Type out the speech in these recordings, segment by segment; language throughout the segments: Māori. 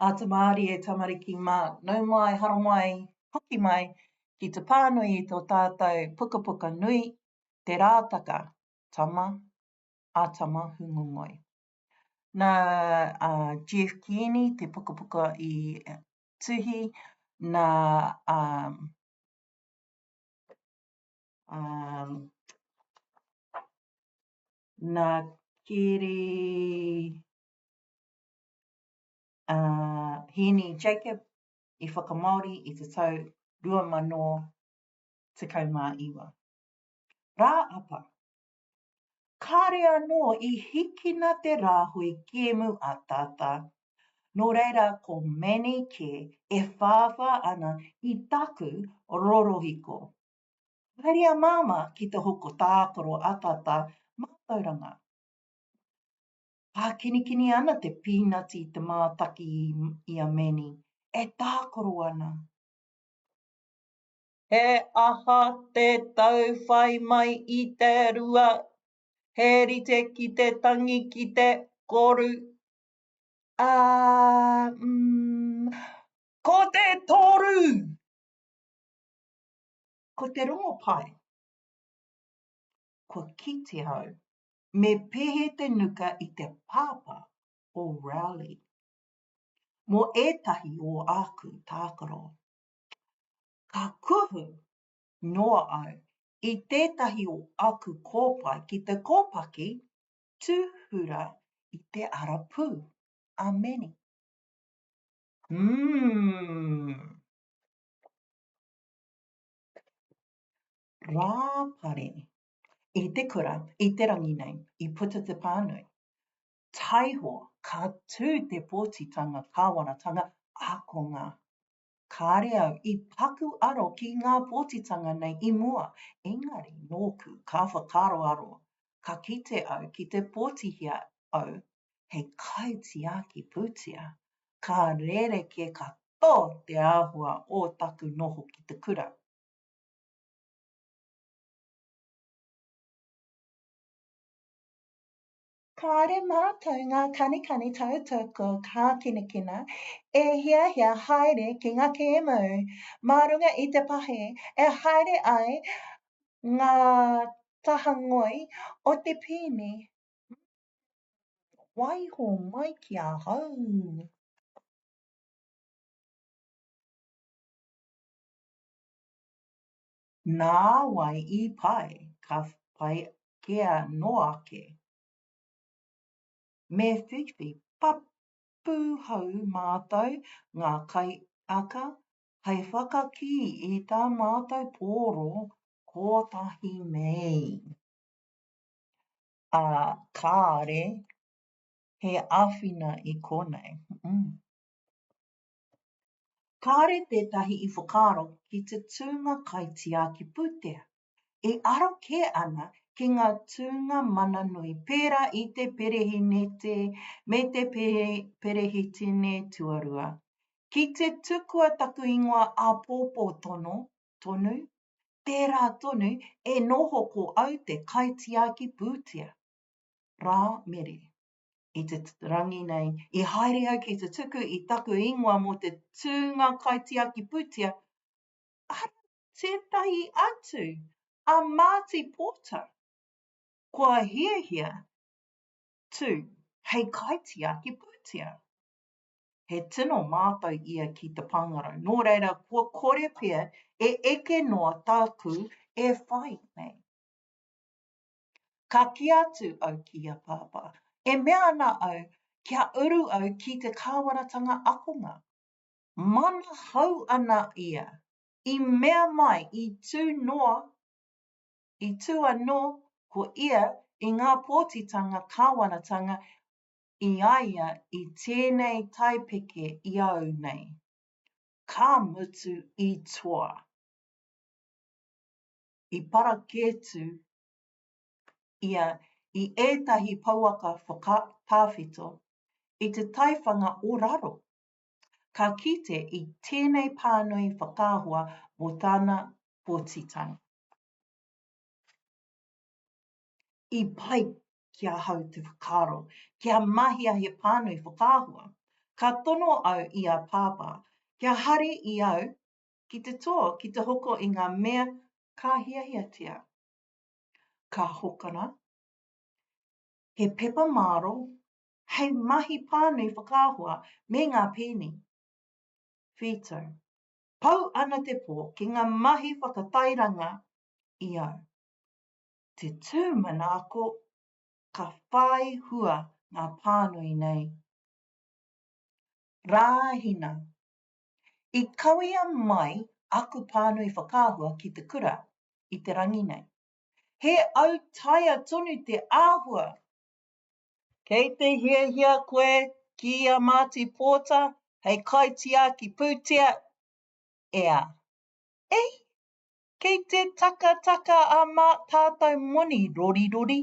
A te Māori e tamariki mā, nau mai, haramai, hoki mai ki te pānui i tō tātou pukapuka nui, Te Rātaka, Tama, a Tama Hūngongoi. Nā a Jeff Kearney te pukapuka i tuhi, nā a um, Nā Kiri ā Hēni Jacob i whakamāori i te tau 2019. Rā apa, kāre anō i hikina te rāhui kēmu a Tata, nō reira ko Manny kē e whāwhā ana i taku rorohiko. Haere a Māmā ki te hoko tākaro a Tata mātauranga. Pākinikini ana te pīnati i te mātaki i a Manny, e tākaro ana. He aha te tau whai mai i te rua? He rite ki te tangi ki te koru. Ā, mm, ko te toru! Ko te rongopai. Kua kite au. Me pehe te nuka i te pāpā o Rowley. Mō ētahi o āku tākaro. Ka kuhu noa au i tētahi o aku kōpae ki te kōpaki tūhura i te arapū. Ameni. Hūm! Rāpare. I te kura, i te rangi nei, i puta te pānui. Taiho, ka tū te pōtitanga kāwanatanga ākonga. Kāre au i paku aro ki ngā pōtitanga nei i mua, engari nōku ka whakaaroaro ka kite au ki te pōtihia au hei kaitiaki pūtea, ka rerekē katoa te āhua o taku noho ki te kura. Kāore mātou ngā kanikani tautoko kākinakina e hiahia haere ki ngā kēmau mā runga i te pahi e haere ai ngā taha ngoi o te pēne me te whakaaro waiho mai ki ahau. Nāwai i pai, ka pai kea noa ake. Me whiwhi papu hou mātou ngā kaiaka hei whakakī i tā mātou pōro Kotahi Mei. Ā, kāre he āwhina i konei. Mm. Kāre tētahi i whakaaro ki te tūnga kaitiaki pūtea, e aro kē ana ki ngā tūnga mana nui pērā i te perehinete me te perehitene tuarua. Ki te tukua taku ingoa āpōpō tono, tonu, tērā tonu e noho ko au te kaitiaki pūtea. Rā Mere. I te rangi nei, i haere au ki te tuku i taku ingoa mō te tūnga kaitiaki pūtea, arā tētahi atu, a Māti Pōta. Kua hiahia tū hei kaitiaki pūtea. He tino mātau ia ki te pāngarau, nō reira kua kore pea e eke noa tāku e whai nei. Ka kī atu au ki a Pāpā, e mea ana au kia uru au ki te kāwaratanga akonga. Manahau ana ia, i mea mai i tū noa, i tū anō ko ia i ngā pōtitanga kāwaratanga i a ia i tēnei taipeke i au nei. Ka mutu i toa. I parakētu ia i ētahi pouaka whakatawhito i te taiwhanga o raro. Ka kite i tēnei pānui whakaahua mō tana pōtitanga. i pai ki ahau te whakaaro, kia mahia he pānui whakaahua. Ka tono au i a Pāpā, kia hari i au ki te tō, ki te hoko i ngā mea ka hiahiatia. Ka hokona he pepa māro hei mahi pānui whakaahua me ngā pēni. Whītau. Pau ana te pō ki ngā mahi whakatairanga i au. te tū manaako ka whai hua ngā pānui nei. Rāhina, I kawea mai aku pānui whakaahua ki te kura i te rangi nei. He autaia tonu te āhua! Kei te hiahia koe ki a Māti Pōta hei kaitiaki pūtea? Ea. Ei! Kei te takataka a mā tātou moni rorirori.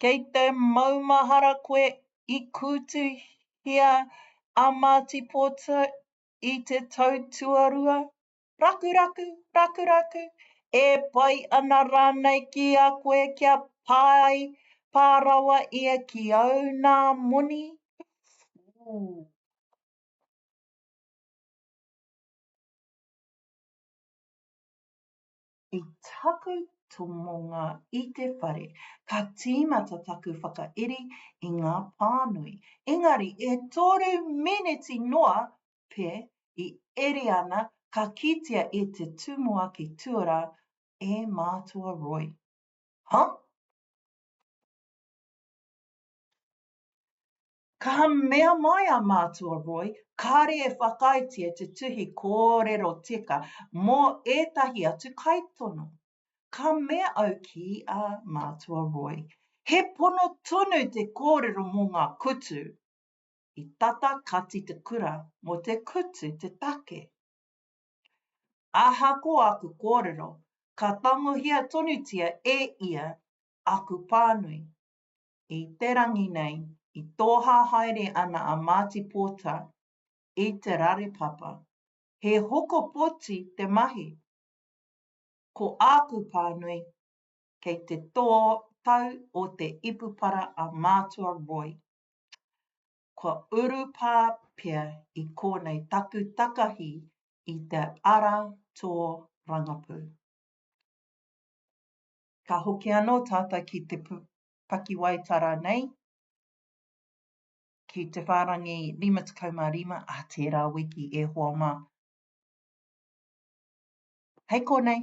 Kei te maumahara koe i kūtuhia a Māti Pōta i te tau tuarua. Rakuraku, rakuraku, e pai ana rānei ki a koe kia pai pā rawa ia ki au nā moni? Ooh. I taku tomonga i te whare, ka tīmata taku whakairi i ngā pānui. Engari, e toru miniti noa pea i eri ana ka kitea e te tumuaki tuarā e mātua Roy. Huh? Ka mea mai a Mātua Roy, kāre e whakaaetia te tuhi kōrero teka mō ētahi atu kaitono. Ka mea au ki a Mātua Roy, he pono tonu te kōrero mō ngā kutu. I tata kati te kura mō te kutu te take. Ahakoa aku kōrero, ka tangohia tonutia e ia aku pānui. I te rangi nei, i tōhā haere ana a Marty Pōta i te rare papa. He hoko poti te mahi. Ko āku pānui, kei te tō tau o te ipupara a Mātua Roy. Kua urupā pea i kōnei taku takahi i te ara tō rangapū. Ka hoki anō tātou ki te pakiwaitara nei, ki te whārangi 55 ā tērā wiki e hoa mā. Hei konei!